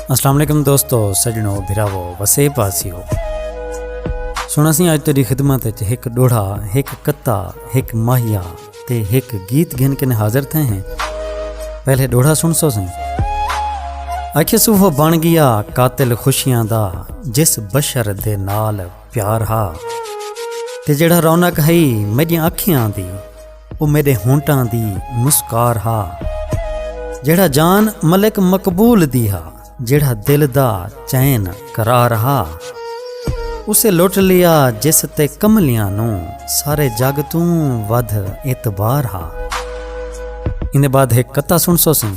السلام علیکم دوستو سجنو بھراو وسے پاسیو سنا سی اج تیری خدمت وچ ایک ڈوڑھا ایک کتا ایک ماہیا تے ایک گیت گھن کے حاضر تھے ہیں پہلے ڈوڑھا سن سو سن اکھ سو وہ بن گیا قاتل خوشیاں دا جس بشر دے نال پیار ہا تے جڑا رونق ہئی میری اکھیاں دی او میڈے ہونٹاں دی مسکار ہا جیڑھا جان ملک مقبول دی ہا جیڑھا دل دا چین قرار ہا اسے لٹ لیا جس تے کملیاں نو سارے جگ توں ودھ اعتبار ہا ان بعد ایک کتا سن سو سن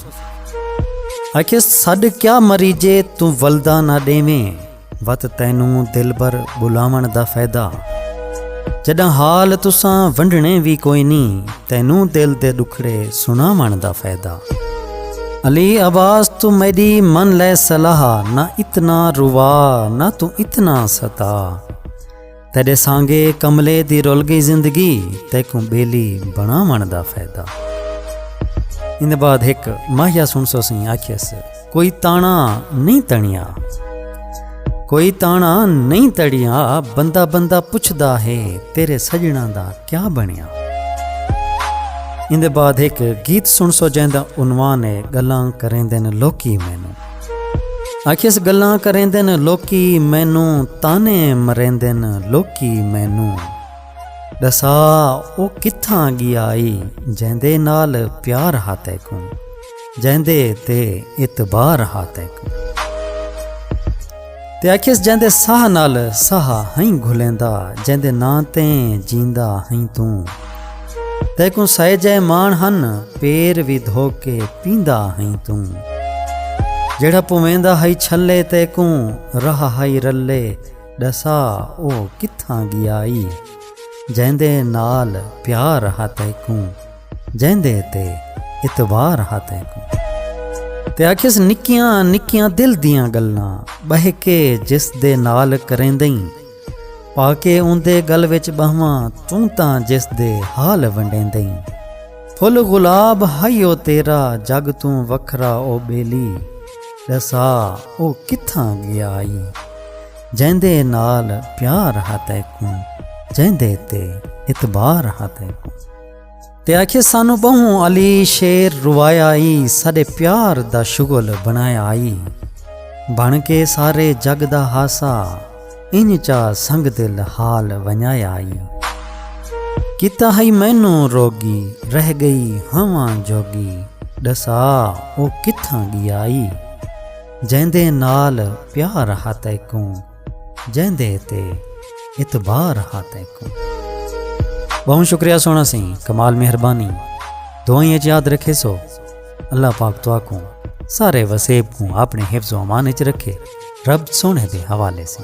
آکھے سڈ کیا مریجے توں ولدا نہ ڈیویں وت تینوں دلبر بلاون دا فیدہ جڈاں حال تساں ونڈنے وی کوئی نی تینوں دل دے ڈکھڑے سناون دا فیدہ علی عباس تو میڈی من لے صلاح نہ اتنا روا نہ تو اتنا ستا تیڈے سانگے کملے دی رول گئی زندگی تیکوں بیلی بنا من دا فائدہ ان بعد ایک ماہیا سن سو سی آخیس کوئی تانا نہیں تنیا کوئی تانا نہیں تڑیا بندہ بندہ پوچھدا ہے تیرے سجنا دا کیا بنیا ان دے بعد ایک گیت سن سو جیندا عنوان ہے گلاں کریں دن لوکی مینوں آکھیس گلاں کریندن لوکی مینوں تانے مریندن لوکی مینوں ڈسا او کتھاں گیا ای جیندے نال پیار ہا تیکوں جیندے تے اعتبار ہا تیکوں تے آکھیس جیندے ساہ نال ساہ ہئیں گھلیندا جیندے ناں تے جیندا ہئیں توں تیکوں سائے جائے مان ہن پیر وی دھو کے پیندا ہئیں توں جیڑھا پویندا ہئی چھلے تیکوں راہ ہئی رلے ڈسا او کتھاں گیائی جیندے نال پیار ہا تیکوں جیندے تے اتبار ہا تینکوں تے آکھیس نکیاں نکیاں دل دیاں گلاں بہہ کے جس دے نال کریندیں پا کے اوندے گل وچ بہواں توں تاں جس دے حال ونڈیندیں پھل گلاب ہائی او تیرا جگ توں وکھرا او بیلی ڈسا او کتھاں گیا آئی جیندے نال پیار ہا تینکوں جیندے تے اتبار ہا تینکوں تے آکھیے سانو بہوں علی شیر روایا آئی ساڈے پیار دا شغل بنایا آئی بن کے سارے جگ دا ہاسا ان چا سنگ دل حال ونجایا آئی کیتا ہئی مینو روگی رہ گئی ہوا جوگی ڈسا او کتھاں گیا آئی جیندے نال پیار ہاتھ کوں جیندے تے اعتبار ہا تیکوں بہوں شکریہ سونا سی کمال مہربانی دعائیں اچ یاد رکھے سو اللہ پاک تو آکوں سارے وسیب کوں اپنے حفظ و امان اچ رکھے رب سونے دے حوالے سے